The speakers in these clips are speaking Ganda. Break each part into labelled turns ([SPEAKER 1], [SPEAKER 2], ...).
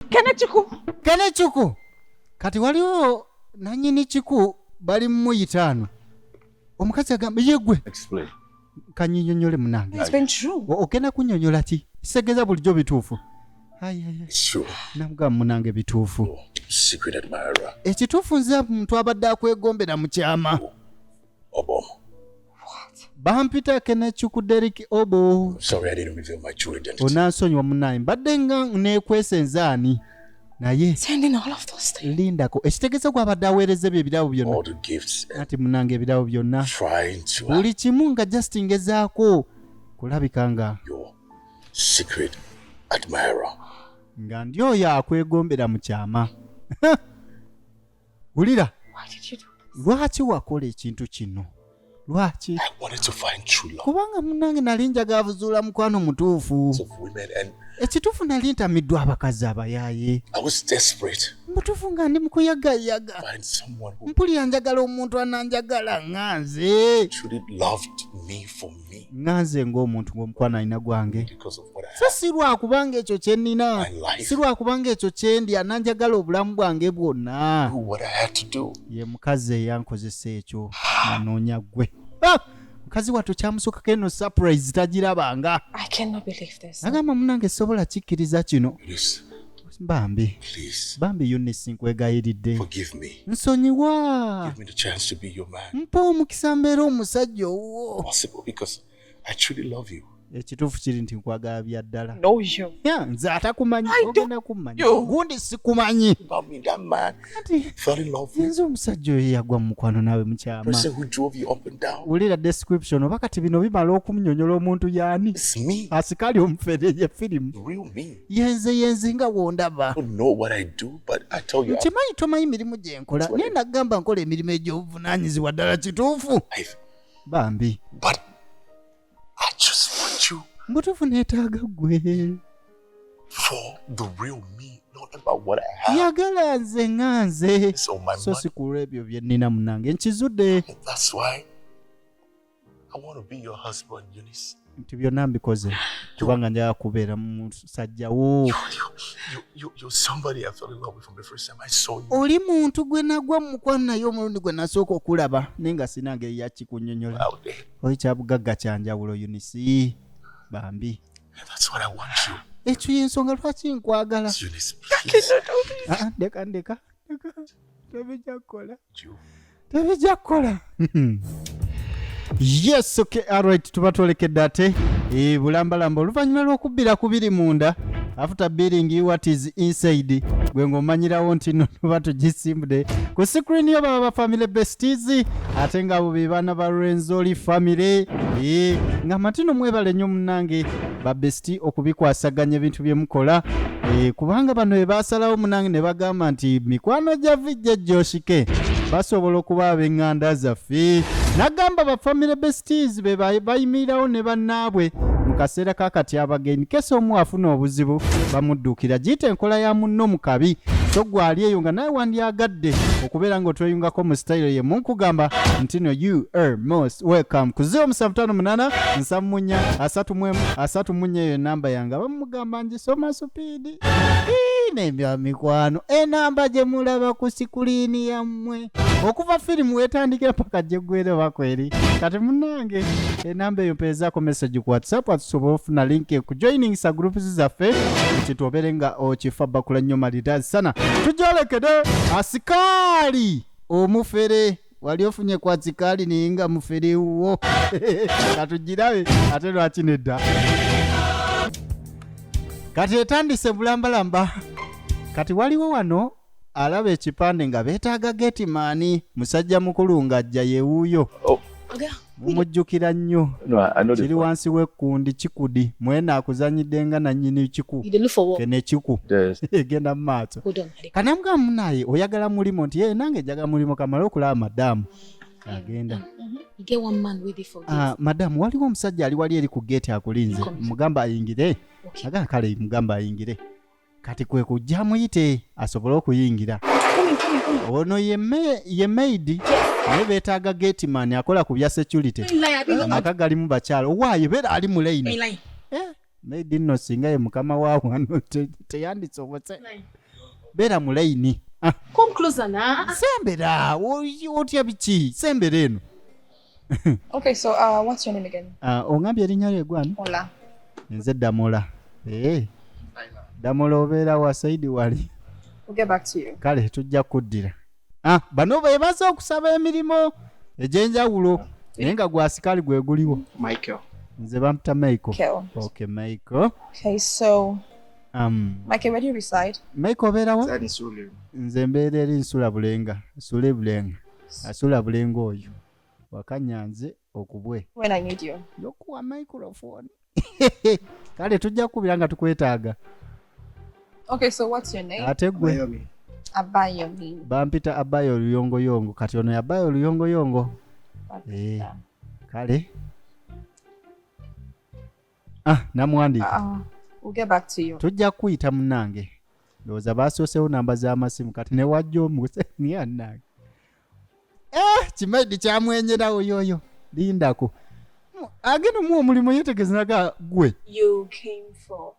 [SPEAKER 1] kene kiku kene kiku kati waliwo nanyini kiku bali mumuyitaano omukazi agamba yegwe
[SPEAKER 2] kanyinyonyole
[SPEAKER 1] munange
[SPEAKER 3] okenda kunyonyola ki
[SPEAKER 1] segeza bulijjo bituufu
[SPEAKER 2] namugamba
[SPEAKER 1] munange bituufu
[SPEAKER 2] oh, ekituufu nze
[SPEAKER 1] muntu abadde akwegombera mu kyama oh. Obom.
[SPEAKER 2] What?
[SPEAKER 1] bampita kenecuku derik obo sorry i didn't reveal
[SPEAKER 2] my true identity onansonyiwa munaye
[SPEAKER 1] mbadde nga nekwesa enzaani naye Sending all of those
[SPEAKER 3] things. lindako ekitegeeza
[SPEAKER 1] gwabadde aweereza ebyo ebirabo byonna all the gifts and nati
[SPEAKER 2] munange ebirabo
[SPEAKER 1] byonna trying to buli
[SPEAKER 2] kimu nga just
[SPEAKER 1] ngezaako kulabika nga your
[SPEAKER 2] secret admirer nga
[SPEAKER 1] ndi oyo akwegombera mu kyama wulira
[SPEAKER 3] lwaki wakola ekintu
[SPEAKER 1] kino lwaki
[SPEAKER 2] kubanga munange nali njaga
[SPEAKER 1] abuzuula mukwano mutuufu
[SPEAKER 2] ekituufu nali
[SPEAKER 1] ntamiddwa abakazi abayaaye
[SPEAKER 2] mutuufu nga ndi
[SPEAKER 1] mukuyagayaga
[SPEAKER 2] mpulira njagala omuntu
[SPEAKER 1] ananjagala nga nze
[SPEAKER 2] nga nze ng'omuntu
[SPEAKER 1] ng'omukwano alina gwange so si
[SPEAKER 2] lwakubanga ekyo kye
[SPEAKER 1] nnina si lwakubanga
[SPEAKER 2] ekyo kye
[SPEAKER 1] ndya nanjagala obulamu bwange bwonna
[SPEAKER 2] ye mukazi
[SPEAKER 1] eyankozesa ekyo nanoonya ggwe ah! mukazi wattu kyamusukako eno surprise tagirabanga
[SPEAKER 3] agamba munange sobola
[SPEAKER 1] kikkiriza kino
[SPEAKER 2] bambi
[SPEAKER 1] bambi
[SPEAKER 2] yunisi
[SPEAKER 1] nkwegayiridde
[SPEAKER 2] nsonyiwa mpa omukisa mbeera
[SPEAKER 1] omusajja owuwo
[SPEAKER 2] ekituufu kiri nti
[SPEAKER 1] nkwagala bya ddala
[SPEAKER 3] nze atakumanyi
[SPEAKER 1] ogenda kummanya gundi sikumanyi nze
[SPEAKER 2] omusajja oyo yagwa
[SPEAKER 1] mu mukwano naawe mukyama
[SPEAKER 2] wulira description oba
[SPEAKER 1] kati bino bimala okumnyonyola omuntu yaani asikaali
[SPEAKER 2] omufere
[SPEAKER 1] ye firimu yenze
[SPEAKER 2] yenze nga
[SPEAKER 1] wondaba
[SPEAKER 2] nkimanyi tomanyi mirimu gye
[SPEAKER 1] nkola naye nagamba nkola emirimu egy'obuvunanyizibwa ddala kituufu bambi
[SPEAKER 2] mbutuufu neetaaga
[SPEAKER 1] gwe
[SPEAKER 2] yagala nze nga
[SPEAKER 1] nze so
[SPEAKER 2] sikulwa ebyo bye
[SPEAKER 1] nnina munange nkizudde
[SPEAKER 2] I want to be your husband, Eunice. nti byonna mbikoze
[SPEAKER 1] kubanga njala kubeera musajja wo
[SPEAKER 2] oli muntu gwe
[SPEAKER 1] nagwa mukwano naye omulundi gwe nasooka okulaba naye nga sina ngeri yakikunyonyola oli
[SPEAKER 2] kyabugagga
[SPEAKER 1] kyanjawulo unisi bambi
[SPEAKER 2] ekyo yensonga
[SPEAKER 1] lwaki nkwagala ah,
[SPEAKER 2] ah, ndeka
[SPEAKER 1] ndeka tebijja kukola
[SPEAKER 2] tebijja
[SPEAKER 1] kukola yes okay alright tuba twolekedde ate e, bulambalamba oluvannyuma lw'okubbira ku biri munda after billing you what is inside gwe ng'omanyirawo nti no tuba tugisimbude ku screen yo baba ba family besties ate ng'abo be baana ba rwenzoli family e, nga matino mwebale nnyo munange babesiti okubikwasaganya ebintu bye mukola eh, kubanga bano be baasalawo munange ne bagamba nti mikwano gya vijja gyoshike basobola okuba ab'eŋŋanda zaffe n'agamba bafamire besitiizi be bayimirirawo ne bannaabwe mu kaseera ka kati abagenyi kesa omu afuna obuzibu bamudduukira giyita enkola ya munno mu kabi so gwe ali eyo nga nawe wandyagadde okubeera nga otweyungako mu sitayiro ye munkugamba ntino ur most welcome ku 0758 nsamu munya asatu mwemu asatu munya eyo enamba yange abamugamba ngisoma supiidi nebya mikwano enamba gye mulaba ku sikuliini yammwe okuva firimu wetandikira paka gyegwere bakweri kati munange enamba eyo mpeezaako message ku whatsapp atusobola ofuna link ekujoiningisa groups zaffe kitwobere nga okifa bakula nnyo malidaazi sana tujolekede asikaali omufere wali ofunye kwa kikaali naye nga mufere wuwo katugirabe ate lwaki nedda kati etandise bulambalamba kati waliwo wano alaba ekipande nga beetaaga getimaani musajja mukulu ng'ajja yewuuyo Oga, mumujjukira nnyo kiri wansi w'ekkundi kikudi mwena akuzanyidde nga nannyini kiku kene kiku egenda mu maaso kanamga munaye oyagala mulimu nti yee nange njaga mulimu kamale okulaba madamu agenda mm-hmm. ah, madamu waliwo omusajja ali wali eri ku geeti akulinze mugamba ayingire aga kale mugamba ayingire kati kwe kujja amuyite asobole okuyingira ono ye maidi naye betaaga gateman akola ku bya security amaka galimu bakyalo owaayo beera ali mu laini eh, maidi nno singa ye mukama wa wano teyandisobose beera mu laini ah.
[SPEAKER 3] sembera
[SPEAKER 1] otya biki sembera eno
[SPEAKER 3] okay, so, uh, what's your name again? Uh, ongambye erinnya lye
[SPEAKER 1] gwani Ola.
[SPEAKER 3] nze damola
[SPEAKER 1] hey. Eh. damola obeera wa saidi wali we'll get back to
[SPEAKER 3] you. kale tujja kuddira
[SPEAKER 1] ah, bano bebaze okusaba emirimu egyenjawulo naye nga gwasikaali gwe guliwo michael
[SPEAKER 4] nze bamuta
[SPEAKER 1] michael okay michael
[SPEAKER 3] okay
[SPEAKER 1] so
[SPEAKER 3] um michael where do you reside michael obeerawa
[SPEAKER 1] nze
[SPEAKER 4] mbeera eri
[SPEAKER 1] nsula bulenga nsula ebulenga asula bulengo oyo wakanyanze okubwe
[SPEAKER 3] yokuwa microphone
[SPEAKER 1] kale tujja kukubira nga tukwetaaga
[SPEAKER 3] okay, so what's your name? ate gwe bampita abayo
[SPEAKER 1] oluyongoyongo kati ono yabayo oluyongoyongo eh, kale Ah, namwandiika. Uh, we'll
[SPEAKER 3] get back to you. Tujja kuyita munange.
[SPEAKER 1] Ndowooza baasoosewo namba z'amasimu kati ne wajja omuse niya nange. Eh, kimaidi kyamwenyerawo yoyo. Lindako. Agenda mu omulimu yetegezaga gwe. You came
[SPEAKER 3] for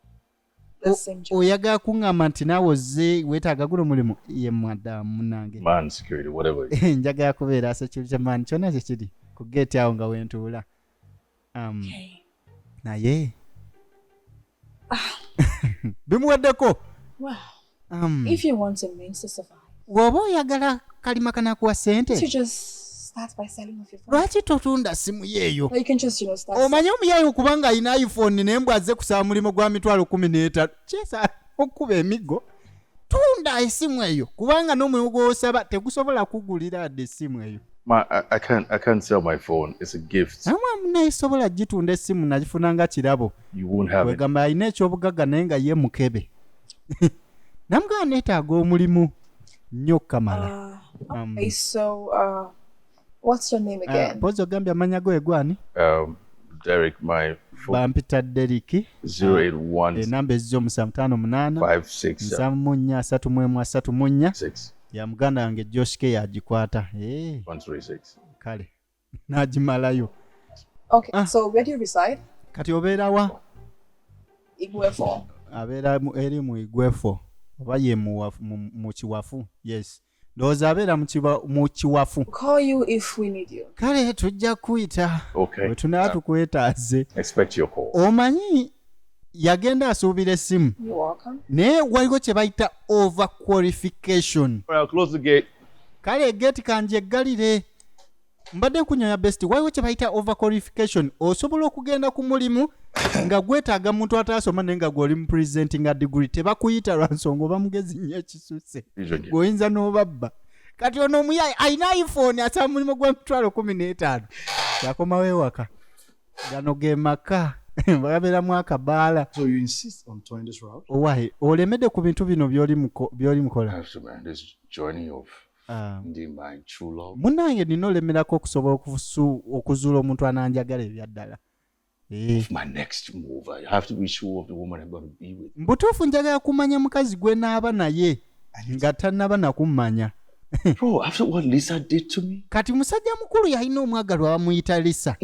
[SPEAKER 3] oyagala kuŋŋamba nti
[SPEAKER 1] naawe ozze weetaaga guno mulimu ye madamu munange
[SPEAKER 2] eh, njagala kubeera
[SPEAKER 1] security man kyonna kye kiri ku geeti awo nga wentuula um,
[SPEAKER 3] naye
[SPEAKER 1] ah. bimuweddeko
[SPEAKER 3] Um, if you want a means to survive, woba oyagala
[SPEAKER 1] kalima kanakuwa sente you just start
[SPEAKER 3] by selling off your phone. lwaki totunda simu
[SPEAKER 1] yeeyo Or you can just, you know, start.
[SPEAKER 3] omanye omuyayi okuba nga
[SPEAKER 1] alina iphone naye mbw azze kusaba mulimu gwa mitwalo kumi n'etaano kyesa okukuba emiggo tunda esimu eyo kubanga n'omulimu gwosaba tegusobola kugulira adde esimu eyo My, I, I can't.
[SPEAKER 2] I can't sell my phone. It's a gift. namwe munayisobola
[SPEAKER 1] gitunda esimu nagifuna nga kirabo You won't have it. wegamba
[SPEAKER 2] alina ekyobugagga
[SPEAKER 1] naye nga ye mukebe namugamba neetaaga omulimu nnyo kamala
[SPEAKER 3] ah, um, ah, pozi ogambye amanya go
[SPEAKER 1] egwani um,
[SPEAKER 2] bampita deriki enamba eh, ezija omusa
[SPEAKER 1] mutaano munaana nsamu mu
[SPEAKER 2] nnya asatu mu emu asatu mu
[SPEAKER 1] nnya ya
[SPEAKER 2] muganda wange
[SPEAKER 1] joshke yagikwata eh.
[SPEAKER 2] kale
[SPEAKER 1] n'agimalayo
[SPEAKER 3] okay, ah. so where do you reside? kati obeera wa igwefo abeera
[SPEAKER 1] eri mu igwefo oba ye mu kiwafu yes ndowooza abeera mu kiwafu
[SPEAKER 3] kale tujja kukuyita
[SPEAKER 1] bwe tunaba
[SPEAKER 2] tukwetaaze omanyi
[SPEAKER 1] yagenda asuubira essimu naye
[SPEAKER 3] waliwo kye
[SPEAKER 1] bayita over qualification
[SPEAKER 2] kale geti
[SPEAKER 1] kanjeggalire mbadde nkunyaya best waliwo kye bayita overqualification osobola okugenda ku mulimu nga gwetaaga muntu ataasoma naye nga gwoli mu presentinga degree tebakuyita lwa nsonga oba mugezi nnyo ekisusse gweoyinza n'obabba kati ono omuyayi alina iphone asaba mulimu gwa mitwalo kumi n'etaano yakomawo ewaka gano ge maka babeeramu akabaala
[SPEAKER 4] olemedde ku
[SPEAKER 1] bintu bino byoli mukola
[SPEAKER 2] Ah. ndi manculo munange nina olemerako
[SPEAKER 1] okusobola okuzuula omuntu ananjagala ebyaddala
[SPEAKER 2] eh. mbutuufu njagala kumanya
[SPEAKER 1] mukazi gwe naaba naye nga tanaba nakummanya
[SPEAKER 2] kati musajja mukulu
[SPEAKER 1] yalina omwagalwa bamuyita lisa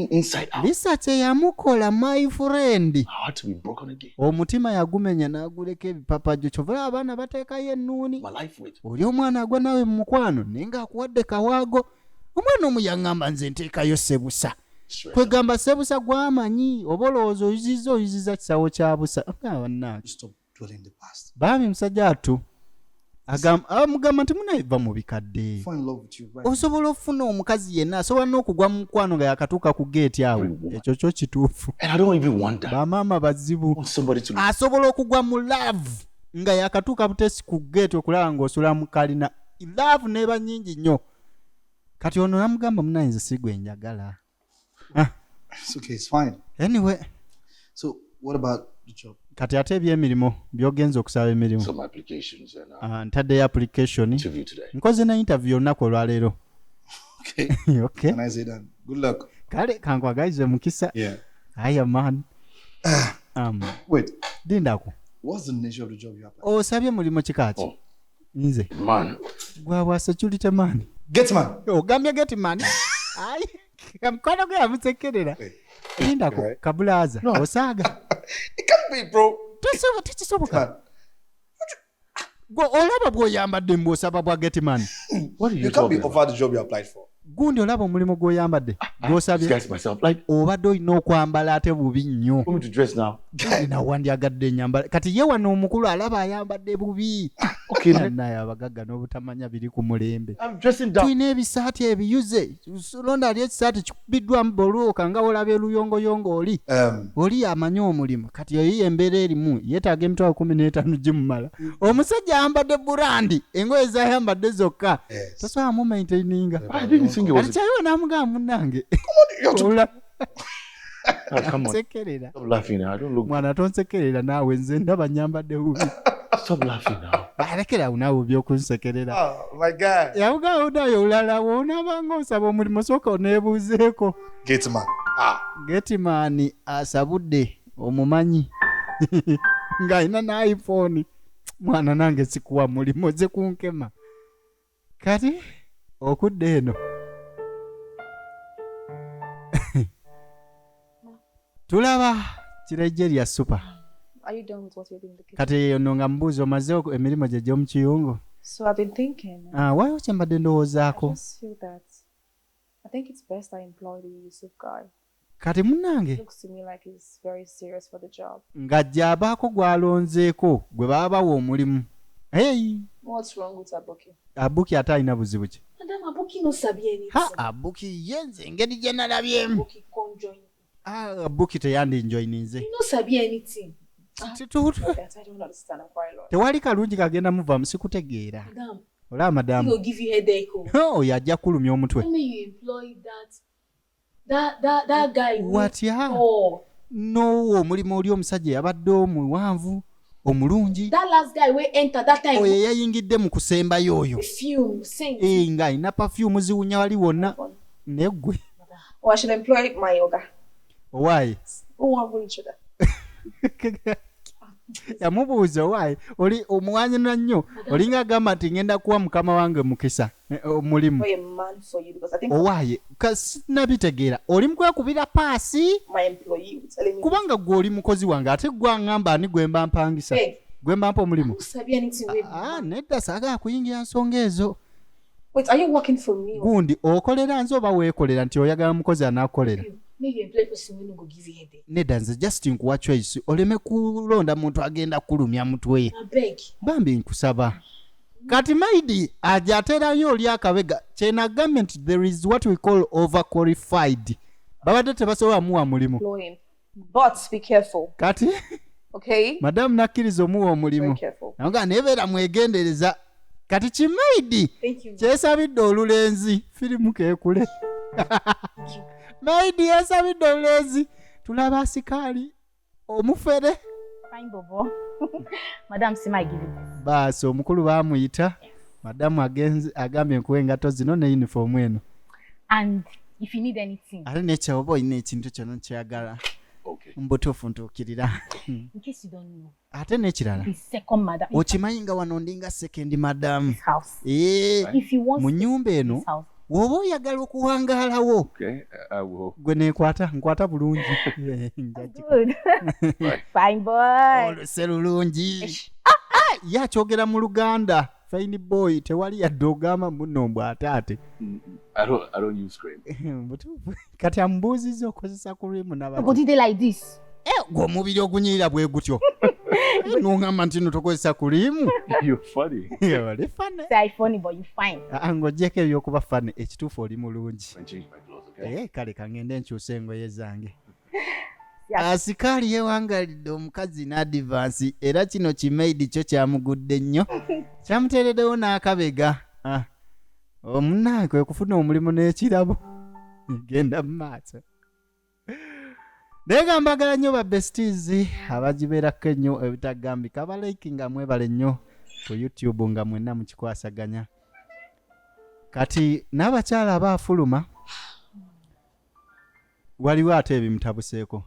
[SPEAKER 1] lisa
[SPEAKER 2] kyeyamukola
[SPEAKER 1] my friend
[SPEAKER 2] omutima yagumenya
[SPEAKER 1] n'aguleka ebipapajo kyovula abaana bateekayo ennuuni oli
[SPEAKER 2] omwana agwa naawe
[SPEAKER 1] mu mukwano naye ng'akuwadde kawaago omwana omu yaŋŋamba nze nteekayo sebusa kwegamba sebusa gwamanyi oba olowooza oyuziza oyuziza kisawo kya busa
[SPEAKER 4] bambi musajja atu
[SPEAKER 1] amugamba nti munaiva mu bikadde
[SPEAKER 4] osobola okufuna omukazi
[SPEAKER 1] yenna asobola n'okugwa mu mukwano nga yakatuuka ku geeti awo ekyo kyo kituufu
[SPEAKER 2] bamaama bazibu asobola okugwa mu
[SPEAKER 1] laavu nga yakatuuka butesi ku geeti okulaba ng'osula mu kalina laavu neeba nyingi nnyo kati ono namugamba munaye nze sigwe njagala Ah.
[SPEAKER 4] It's okay, it's fine. Anyway.
[SPEAKER 1] So
[SPEAKER 4] what about the job? kati ate ebyemirimu
[SPEAKER 1] byogenza okusaba emirimu uh,
[SPEAKER 2] ah, ntaddeyo application
[SPEAKER 1] nkoze
[SPEAKER 2] ne interview olunaku
[SPEAKER 1] olwaleero
[SPEAKER 4] kale kankwagalize
[SPEAKER 1] mukisa aya
[SPEAKER 4] man
[SPEAKER 1] ah.
[SPEAKER 4] um, dindako osabye mulimu kikaki
[SPEAKER 1] oh. nze
[SPEAKER 2] man gwabwa security
[SPEAKER 1] man getman ogambye
[SPEAKER 4] getman
[SPEAKER 1] ayi mukwano gwe yamusekerera lindako eh. kabulaaza no. osaaga tekisoboka gwe olaba bwoyambadde mbwosaba bwa getman
[SPEAKER 4] gundi olaba omulimu
[SPEAKER 1] gwoyambadde ah, ah, gwosabye
[SPEAKER 2] obadde olina okwambala
[SPEAKER 1] ate bubi nnyo
[SPEAKER 2] nawandyagadde
[SPEAKER 1] enyambala kati ye wano omukulu alaba ayambadde bubi ah, naye
[SPEAKER 2] abagagga
[SPEAKER 1] n'obutamanya biri ku mulembe tulina
[SPEAKER 2] ebisaati ebiyuze
[SPEAKER 1] londa ali ekisaati kikubiddwamu boluuka nga olaba eluyongoyongo oli um. oli amanyi omulimu kati eyo embeera erimu yetaaga emitwalo kumi n'etaano gimumala omusajja ayambadde burandi engoye zayambadde zokka Yes. tosobola mu maintaininga I didn't think it was.
[SPEAKER 2] alikyayiwa namugamba munange
[SPEAKER 1] You're too- Ola- Ah, come
[SPEAKER 2] on. nsekerera Stop laughing
[SPEAKER 1] now. I don't look.
[SPEAKER 2] mwana tonsekerera naawe
[SPEAKER 1] nze ndaba nyambadde bubi Stop laughing
[SPEAKER 2] now. balekerawo naawe
[SPEAKER 1] byokunsekerera Oh, my God.
[SPEAKER 4] yawugawo nayo olala
[SPEAKER 1] woonabanga osaba omulimu sooka oneebuuzeeko Gate man. Ah.
[SPEAKER 4] getimaani
[SPEAKER 1] asabudde omumanyi ng'alina n'iphone mwana nange sikuwa mulimu ze kunkema kati okudda eno tulaba kirejje lya supa
[SPEAKER 3] kati eyo no nga mubuuzi
[SPEAKER 1] omaze emirimu gye gy'omu kiyungu
[SPEAKER 3] ah, waliwo kye mbadde
[SPEAKER 1] ndowoozaako
[SPEAKER 3] Kati munnange nga gy'abaako
[SPEAKER 1] gw'alonzeeko gwe baba bawa omulimu. Hey!
[SPEAKER 3] Abuki ate alina
[SPEAKER 1] buzibu ki?
[SPEAKER 3] Ha, Abuki ye
[SPEAKER 1] nze engeri gye nalabyemu.
[SPEAKER 3] Ah, Abuki teyandinjoyininze. Tewali kalungi kagenda
[SPEAKER 1] muvaamu sikutegeera. Olaba
[SPEAKER 3] madamu oyo ajja kulumya omutwe. That, that, that guy watya oh. nowo
[SPEAKER 1] omulimu oli omusajja yabadde omuwanvu omulungi
[SPEAKER 3] oyo eyayingidde mu
[SPEAKER 1] kusembayo oyo eh,
[SPEAKER 3] nga alina pafyumu
[SPEAKER 1] ziwunya wali wonna naye ggwe oh,
[SPEAKER 3] owaaye
[SPEAKER 1] yamubuuza owaaye oli omuwanyina nnyo olinga agamba nti ngenda kuwa mukama wange mukisa eh, oh, mulimu
[SPEAKER 3] owaaye
[SPEAKER 1] kasinabitegeera oli mukwekubira paasi
[SPEAKER 3] kubanga gwe oli mukozi
[SPEAKER 1] wange ate gwangamba ani gwemba mpangisa gwemba mpa
[SPEAKER 3] omulimu
[SPEAKER 1] ah,
[SPEAKER 3] ah, nedda saagala
[SPEAKER 1] kuyingira nsonga ezo
[SPEAKER 3] gundi okolera nze
[SPEAKER 1] oba weekolera nti oyagala mukozi anakukolera
[SPEAKER 3] nedda nze just nkuwa
[SPEAKER 1] choice oleme kulonda muntu agenda kulumya mutwe bambi
[SPEAKER 3] nkusaba
[SPEAKER 1] kati maidi aja aterayo oli akabega kyenagambye nti there is what we call over qualified babadde tebasobola muwa mulimu
[SPEAKER 3] kati
[SPEAKER 1] okay.
[SPEAKER 3] madamu nakkiriza
[SPEAKER 1] omuwa omulimu naga naye
[SPEAKER 3] beera
[SPEAKER 1] mwegendereza kati kimaidi kyesabidde
[SPEAKER 3] olulenzi
[SPEAKER 1] firimu kekule maidi yesabidde olulenzi tulaba asikaali omufere
[SPEAKER 5] baasi omukulu
[SPEAKER 1] bamuyita madamu agambye nkuwa engato zino ne yunifoomu eno
[SPEAKER 5] ate nekyoba olina
[SPEAKER 1] ekintu kyona kyagala mbutuufu
[SPEAKER 2] ntuukirira
[SPEAKER 5] ate n'ekirala okimanyi nga wano ndinga
[SPEAKER 1] sekendi madamu eh, mu nyumba
[SPEAKER 5] eno
[SPEAKER 1] woba
[SPEAKER 5] oyagala
[SPEAKER 1] okuwangaalawo
[SPEAKER 2] uh, gwe nekwata nkwata
[SPEAKER 1] bulungi
[SPEAKER 5] oluse lulungi
[SPEAKER 1] ah, ah, ye akyogera mu luganda fine boy tewali yadde ogamba muno mbw ataate
[SPEAKER 2] mm, mm. kati
[SPEAKER 1] amubuuzizza okozesa ku rimu nabagodide like this
[SPEAKER 5] eh, gwe omubiri
[SPEAKER 1] ogunyirira bwe gutyo nongamba nti no tokozesa ku rimu
[SPEAKER 5] ng'ogyeko ebyokuba
[SPEAKER 1] fani ekituufu oli mulungi
[SPEAKER 2] eh, kale kangende nkyusa
[SPEAKER 1] engoye zange
[SPEAKER 5] asikaali ah,
[SPEAKER 1] yewangalidde omukazi n'adivansi era kino kimaidi kyo kyamugudde nnyo kyamuteereddewo n'akabega ah. omunange oh, okufuna omulimu n'ekirabo genda mu maaso naye nga mbagala nnyo ba besties abagibeerako ennyo ebitagambika abalaiki nga mwebale nnyo ku youtube nga mwenna mukikwasaganya kati n'abakyala abaafuluma waliwo ate ebimutabuseeko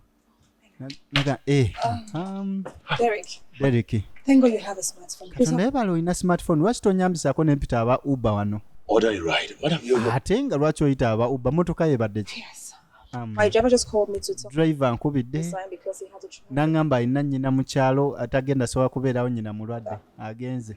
[SPEAKER 1] naga eh, um, katonda
[SPEAKER 3] yebala olina
[SPEAKER 1] smartphone lwaki tonyambisako nempita aba uber wano
[SPEAKER 2] ate nga lwaki oyita aba
[SPEAKER 1] uber motoka yebadde ki Um,
[SPEAKER 3] driver nkubidde nangamba
[SPEAKER 1] alina
[SPEAKER 3] nyina
[SPEAKER 1] mukyalo
[SPEAKER 3] atagenda
[SPEAKER 1] sobola kubeerawo nyina mulwadde agenze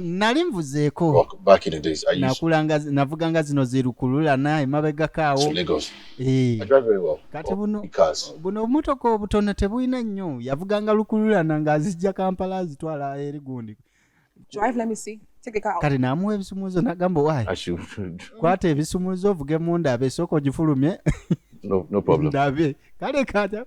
[SPEAKER 2] nali nvuzeeko navuganga zino
[SPEAKER 1] zirukululana emabegako awo eh.
[SPEAKER 2] kati buno
[SPEAKER 1] buno obumotoka
[SPEAKER 2] obutono
[SPEAKER 1] tebulina nnyo yavuganga lukululana ng'azijja kampala azitwala eri gundi
[SPEAKER 3] kati namuwa ebisumuzo
[SPEAKER 1] nagamba wayi
[SPEAKER 2] kwata ebisumuzo
[SPEAKER 1] ovuge munda abe esooka ogifulumye
[SPEAKER 2] ndabe kale
[SPEAKER 1] kata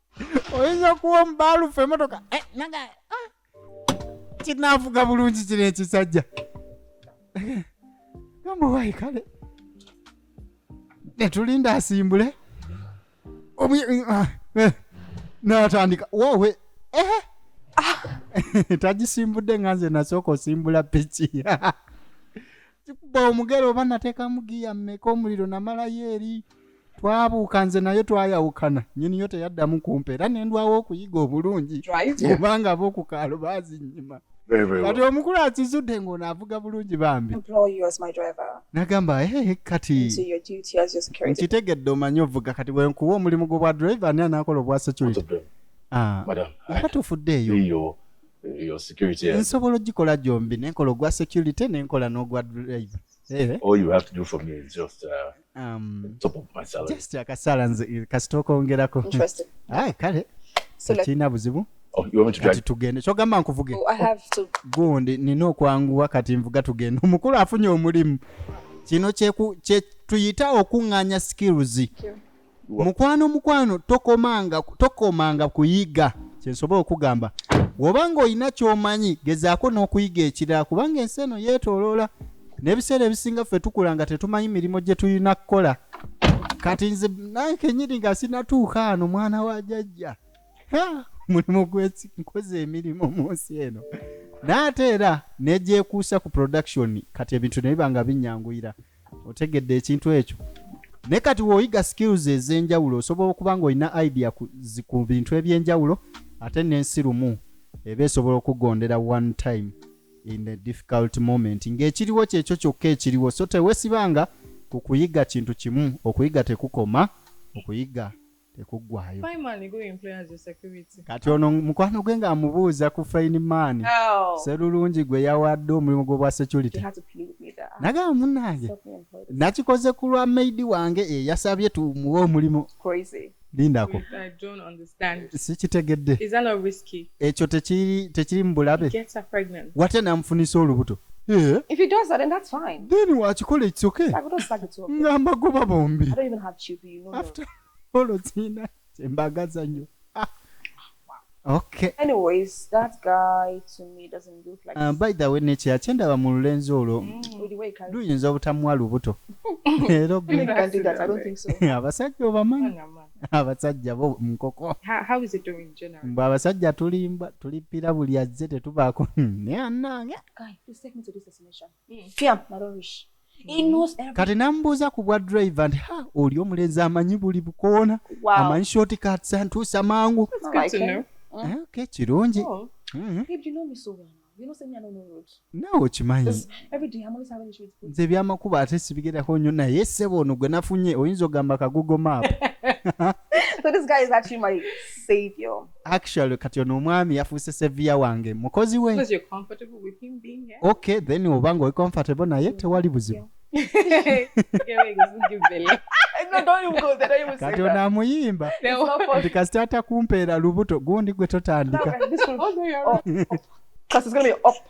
[SPEAKER 1] oyinza okuwa omubaalufu emotoka eh, naga ah. kinaavuga bulungi kino ekisajja gamuwayi kale netulinda asimbule ah, eh, natandika wowe eh. ah. tagisimbudde nga nze nasooka osimbula piki kikuba omugere oba nateekamu giya mmeka omuliro namalayo eri twabuuka nze naye twayawukana nyiniyo teyaddamu kumpa era nendwawo okuyiga obulungi obanga
[SPEAKER 3] abokukaalo
[SPEAKER 1] bazinyima kati
[SPEAKER 2] omukulu akizudde ng'ono
[SPEAKER 1] avuga bulungi bambi
[SPEAKER 3] nagamba ee
[SPEAKER 1] kati
[SPEAKER 3] nkitegedde omanyi ovuga
[SPEAKER 1] kati wenkuwa omulimu gwobwa drive ani anaakola obwa security ah,
[SPEAKER 2] nga tufuddeeyo your security yeah. nsobola ogikola
[SPEAKER 1] gyombi nenkola ogwa security nenkola n'ogwa drive eh? all you have to do for me is just
[SPEAKER 2] uh, um, top of my salary just akasala nze
[SPEAKER 1] kasita okongerako aye
[SPEAKER 3] kale
[SPEAKER 1] tekirina
[SPEAKER 3] buzibu
[SPEAKER 1] oh, kati
[SPEAKER 2] tugende kyogamba nkuvuge
[SPEAKER 1] oh,
[SPEAKER 3] gundi nina
[SPEAKER 1] okwanguwa kati nvuga tugende omukulu afunye omulimu kino kyetuyita okuŋŋanya skills mukwano mukwano tokomanga tokomanga kuyiga kyensobola okugamba woba nga olina kyomanyi gezaako n'okuyiga ekirala kubanga ensi eno yeetoloola n'ebiseera ebisinga ffe tukula nga tetumanyi mirimu gye tulina kukola kati nze nankenyini nga sinatuuka ano mwana wa jajja mulimu gwenkoze emirimu mu nsi eno naate era negyekuusa ku production kati ebintu nebiba nga binyanguyira otegedde ekintu ekyo naye kati woyiga skills ez'enjawulo osobola okuba nga olina idea ku bintu eby'enjawulo ate n'ensi lumu eba esobola okugondera one time in a difficult moment ng'ekiriwo kyekyo kyokka ekiriwo so tewesibanga ku kuyiga kintu kimu okuyiga tekukoma okuyiga tekuggwayo
[SPEAKER 6] kati ono mukwano
[SPEAKER 1] gwe ng'amubuuza ku faini maani oh. serulungi
[SPEAKER 3] gwe
[SPEAKER 1] yawadde omulimu gw'obwa security
[SPEAKER 3] nagamba munnange nakikoze ku lwa
[SPEAKER 1] maidi wange eyasabye tumuwe omulimu
[SPEAKER 3] lindako
[SPEAKER 6] sikitegedde ekyo
[SPEAKER 1] tekiri mu bulabe wate
[SPEAKER 6] namufunisa
[SPEAKER 1] olubuto Yeah. If he does
[SPEAKER 3] that, then that's fine. Then watch call it's okay. Like, we don't suck
[SPEAKER 1] it to
[SPEAKER 3] Ngamba goba bombi. I
[SPEAKER 1] don't even have children.
[SPEAKER 3] after all
[SPEAKER 1] oziina kyembagaza nnyo ah. Okay. Anyways,
[SPEAKER 3] that guy to me doesn't look like. Uh, by the way, nature achenda
[SPEAKER 1] ba mululenzi olo. Mm. Do
[SPEAKER 3] yinza obutamwa lubuto.
[SPEAKER 1] Ero bi. Can't do that. I
[SPEAKER 3] don't think so. Abasajja obamanyi.
[SPEAKER 1] Abasajja
[SPEAKER 6] bo
[SPEAKER 1] mkoko. How, how is it doing
[SPEAKER 6] generally? Mba abasajja tulimba
[SPEAKER 1] tulipira buli azze tetubaako. Ne anange. Guy, please take me to
[SPEAKER 3] this destination. kati namubuuza ku bwa
[SPEAKER 1] drive nti ha oli omulenzi amanyi buli bukoona amanyi short
[SPEAKER 3] cats
[SPEAKER 1] antuusa mangu
[SPEAKER 3] eh, kirungi
[SPEAKER 1] oh.
[SPEAKER 3] mm-hmm. nawe okimanyi nze ebyamakubo ate
[SPEAKER 1] sibigerako nnyo naye sebo ono gwe nafunye oyinza ogamba kagugo maapu
[SPEAKER 3] actually kati
[SPEAKER 1] ono omwami yafuuse seviya wange mukozi we
[SPEAKER 6] okay then oba nga oli
[SPEAKER 1] comfortable naye tewali buzibu
[SPEAKER 3] kati ono amuyimba
[SPEAKER 1] nti
[SPEAKER 3] kasita atakumpeera
[SPEAKER 1] lubuto gundi gwe totandika
[SPEAKER 6] oh,
[SPEAKER 3] oh, oh.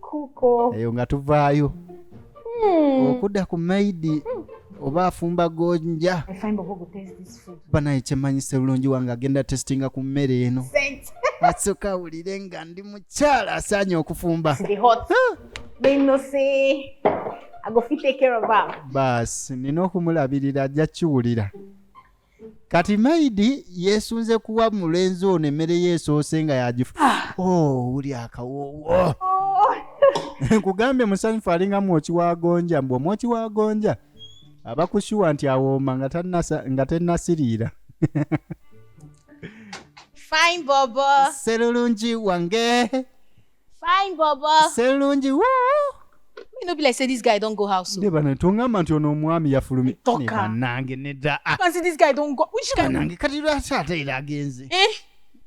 [SPEAKER 1] kuko eyo
[SPEAKER 3] nga tuvaayo
[SPEAKER 1] Hmm. okudda ku maidi oba afumba gonja I find Bobo go taste
[SPEAKER 5] this food. banaye kyemanyi sebulungi
[SPEAKER 1] wange agenda testinga ku mmere eno Saint. asooka awulire nga ndi mukyala asaanye okufumba They hot.
[SPEAKER 5] They no say. I go fit take care of her. baasi nina
[SPEAKER 1] okumulabirira ajja kiwulira kati maidi yesunze kuwa mulenzi ono emmere ye esoose nga yagifu ah. oh, wuli akawoowo nkugambye musanyufu alinga mwoki wa gonja mbu omwoki wa gonja aba kushuwa nti awooma nga tennasiriira
[SPEAKER 5] fine bobo serulungi
[SPEAKER 1] wange Fine,
[SPEAKER 5] Bobo. Selungi, woo! You
[SPEAKER 1] know, be
[SPEAKER 5] like, say this guy don't go house. oh. Ne bana tongamba nti
[SPEAKER 1] ono omwami yafulumye. Toka. Ne banange
[SPEAKER 5] nedda.
[SPEAKER 1] Ah, Can see this guy don't
[SPEAKER 5] go. Which guy? banange kati lwaki ate
[SPEAKER 1] era agenze? Eh?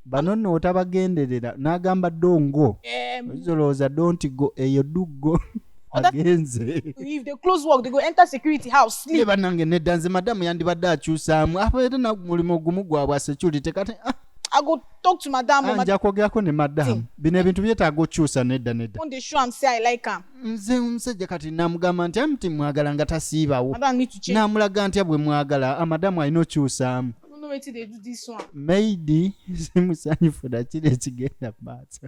[SPEAKER 5] Bano nno
[SPEAKER 1] otabagenderera n'agamba dongo. Um, Oyinza olowooza don't go eyo duggo Oda- agenze. if they close
[SPEAKER 5] work, they go enter security house, Ne sleep. banange nedda
[SPEAKER 1] nze
[SPEAKER 5] madamu
[SPEAKER 1] yandibadde akyusaamu aba era na mulimu gumu gwabwa security kati ah, I go
[SPEAKER 5] talk to madam ah, nja kwogerako ne madam
[SPEAKER 1] bino ebintu byetaaga okyusa nedda nedda
[SPEAKER 5] nze omusajja kati
[SPEAKER 1] namugamba nti amti mwagala nga tasiibawo namulaga
[SPEAKER 5] ntya bwe mwagala
[SPEAKER 1] amadamu ah, alina okyusaamu
[SPEAKER 5] maidi
[SPEAKER 1] simusanyufu nakiri ekigenda maaso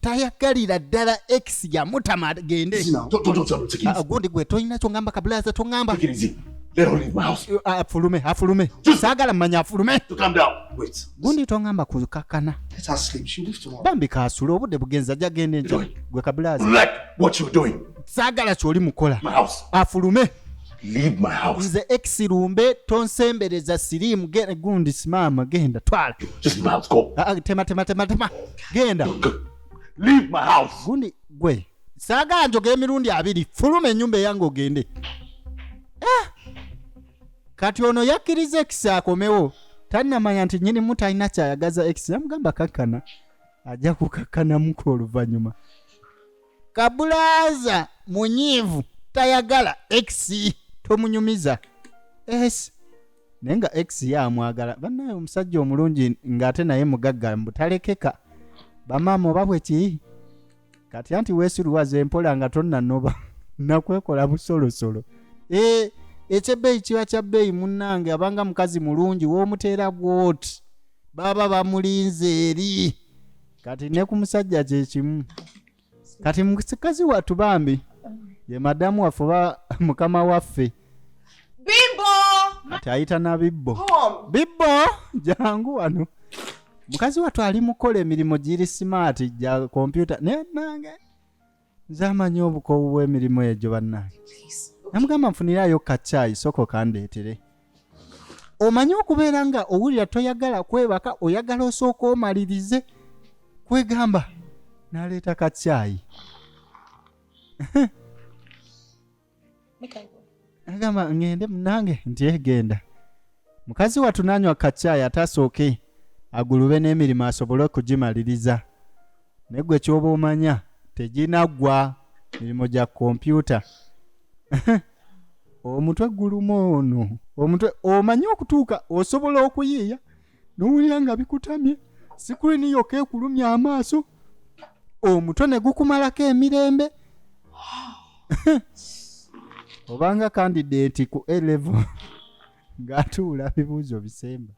[SPEAKER 1] tayagalira ddala ex yamutama agende
[SPEAKER 2] ah, gundi gwe tolina kyongamba
[SPEAKER 1] kabulaza tongamba
[SPEAKER 2] ah, afulume afulume
[SPEAKER 1] sagala mumanya afulume
[SPEAKER 2] gundi tongamba
[SPEAKER 1] kukakana
[SPEAKER 4] bambi kasula obudde
[SPEAKER 1] bugenzi ajja genda enjo gwe kabulaza
[SPEAKER 2] sagala kyoli
[SPEAKER 1] mukola afulume leave
[SPEAKER 2] my house nze ex lumbe
[SPEAKER 1] tonsembereza sirimu ge- gundi simama genda twala just leave my house go
[SPEAKER 2] Ah, ah, tema tema tema tema
[SPEAKER 1] genda
[SPEAKER 2] leave my house gundi gwe
[SPEAKER 1] saagala njoga emirundi abiri fuluma enyumba eyange ogende Ah! kati ono yakkiriza ex akomewo tannamanya nti nyinimu talina kyayagaza ex yamugamba kakkana ajja kukakkanamuko oluvannyuma kabulaaza munyiivu tayagala x tomunyumiza es naye nga x ye amwagala bannaye omusajja omulungi ng'ate naye mugagga mbutalekeka bamaama oba bwe ki kati anti weesiruwaza empola nga tonnanoba nakwekola busolosolo e, ekyebbeeyi kiba kya bbeeyi munnange abanga mukazi mulungi w'omuteera bwoti baba bamulinze eri kati ne ku musajja kyekimu kati mukazi wattu bambi ye madamu waffe oba mukama waffe bibbo
[SPEAKER 3] kati ayita na
[SPEAKER 1] bibbo bibbo jangu wano mukazi wattu ali mukola emirimu giri simaati gya kompyuta naye nange nze amanyi obukoowu bw'emirimu egyo bannange namugamba nfunirayo kacaayi soko kandeetere omanyi okubeera nga owulira toyagala kwebaka oyagala osooka omalirize kwegamba naleeta kacaayi agamba ŋŋende munange nti egenda eh, mukazi wattu nanywa kacaayi ate asooke agulube n'emirimu asobole okugimaliriza naye gwe kyoba omanya teginaggwa mirimu gya kompyuta omutwe guluma ono omutwe omanyi okutuuka osobola okuyiiya nowulira nga bikutamye sikulini yoka ekulumya amaaso omutwe ne gukumalako emirembe obanga kandideti ku elevo ng'atuula bibuuzo bisemba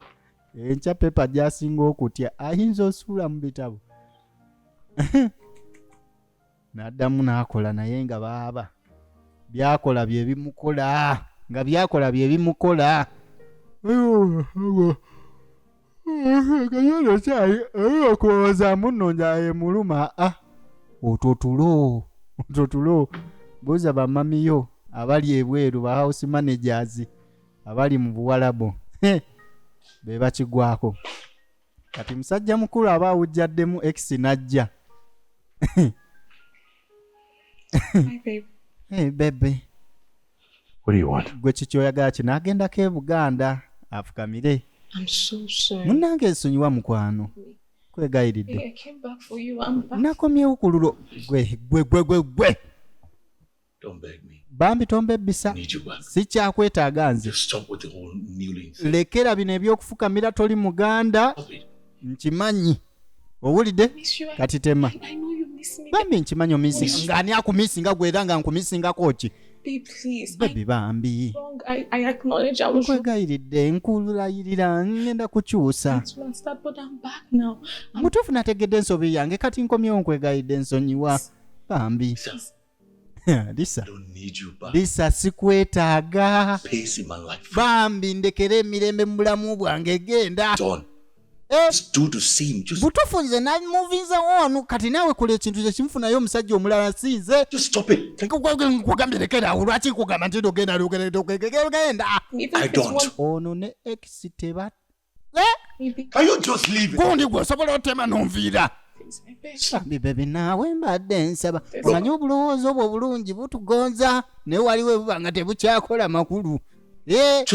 [SPEAKER 1] enkya pepa gyasinga okutya ayinza osuula mu bitabo n'addamu n'akola naye nga baaba byakola bye bimukola nga byakola bye bimukola kayona kyayi oyo okuwooza munno njaye muluma a ah, otwo tulo otwo tulo buuza bamamiyo abali ebweru ba house managers abali mu buwalabu be bakigwako kati musajja mukulu aba awujjaddemu x najja
[SPEAKER 6] bebe
[SPEAKER 2] gwe kikyoyagala kino
[SPEAKER 1] agendako e buganda afukamire
[SPEAKER 6] munnange nsonyiwa
[SPEAKER 1] mukwano kwegayiridde
[SPEAKER 6] nakomyewo ku lulo
[SPEAKER 1] gwe gwe gwe gwe gwe
[SPEAKER 2] bambi tombebbisa sikyakwetaaga nze lekera bino ebyokufukamira
[SPEAKER 1] toli muganda
[SPEAKER 2] nkimanyi
[SPEAKER 1] owulidde kati
[SPEAKER 6] tema bambi nkimanyi omisinga
[SPEAKER 1] ngaani akumisinga gwe era nga nkumisingako ki
[SPEAKER 6] bebi bambi nkwegayiridde
[SPEAKER 1] nkulayirira ngenda kukyusa
[SPEAKER 6] mutuufu nategedde
[SPEAKER 1] ensobi yange kati nkomyewo nkwegayiridde nsonyiwa bambi lisa
[SPEAKER 2] lisa sikwetaaga bambi ndekera
[SPEAKER 1] emirembe mu bulamu bwange genda
[SPEAKER 2] eh, butufu nze namuvinza
[SPEAKER 1] wonu kati naawe kola ekintu kyekimufunayo omusajja omulala sinze
[SPEAKER 2] kugambye lekeraawo
[SPEAKER 1] lwaki nkugamba nti nogenda lugenda
[SPEAKER 2] ono ne ex
[SPEAKER 1] teba
[SPEAKER 2] gundi gwe osobola otema
[SPEAKER 1] nonviira bambi bebi naawe mbadde nsaba omanyi obulowooza obwo obulungi butugonza naye waliwo ebuba nga tebukyakola makulu eh?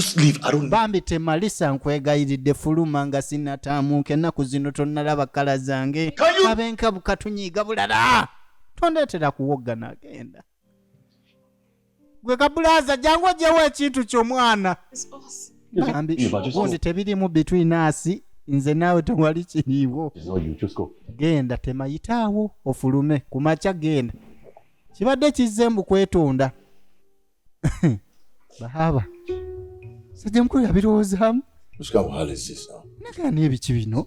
[SPEAKER 2] bambi temalisa
[SPEAKER 1] nkwegayiridde fuluma nga sinataamuuka ennaku zino tonnalaba kkala zange abenkabukatunyiiga bulala tondeetera kuwoggana agenda gwe kabulaza jangu ojewo ekintu kyo mwana bambi gundi tebirimu between us nze naawe tewali kiriiwo
[SPEAKER 2] genda temayitaawo
[SPEAKER 1] ofulume ku makya genda kibadde kizze mbu kwetonda bahaba sajja mukulu yabirowoozaamu
[SPEAKER 2] nagaa n'ebiki bino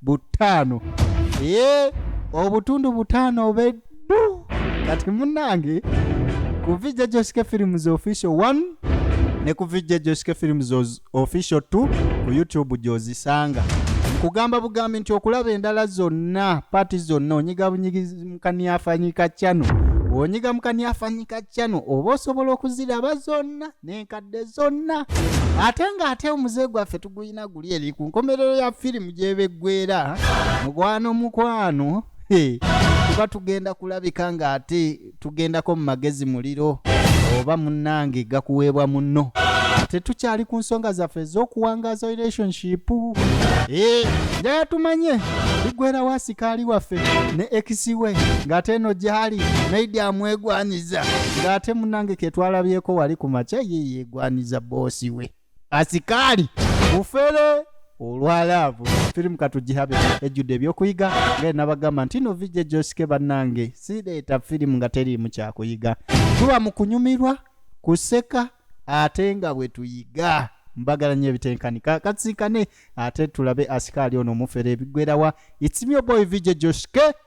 [SPEAKER 1] butaano ee obutundu butaano obeddu kati munange ku vijja josike films official 1 ne ku vijja josike films Oz- official 2 ku youtube gyozisanga nkugamba bugambi nti okulaba endala zonna paati zonna onyiga bunyigizi mukaniafanyika cano onyiga mukaniafanyika cano oba osobola okuziraba zonna n'enkadde zonna ate ng'ate omuze gwaffe tugulina guli eri ku nkomerero ya firimu gyebeggwera mukwano mukwano tuba tugenda kulabika ng'ate tugendako mu magezi muliro oba munnange gakuweebwa munno tetukyali ku nsonga zaffe ez'okuwangaza relationship eh, njaya tumanye ligwera wasikaali waffe ne ekisiwe ng'ate eno gyali naidi amwegwanyiza abakkiriza nga ate munange ketwalabyeko wali ku makya ye yegwaniza boosi we asikaali bufere olwa laavu firimu katugihabe ejjudde ebyokuyiga nga enabagamba nti no vijja ejosike bannange sireeta firimu nga teriimu kyakuyiga tuba mu kunyumirwa kuseka ate nga bwe tuyiga mbagala nyo ebitenkanika katsinkane ate tulabe asikaali ono omufere ebigwerawa itsimyo boy vijja josike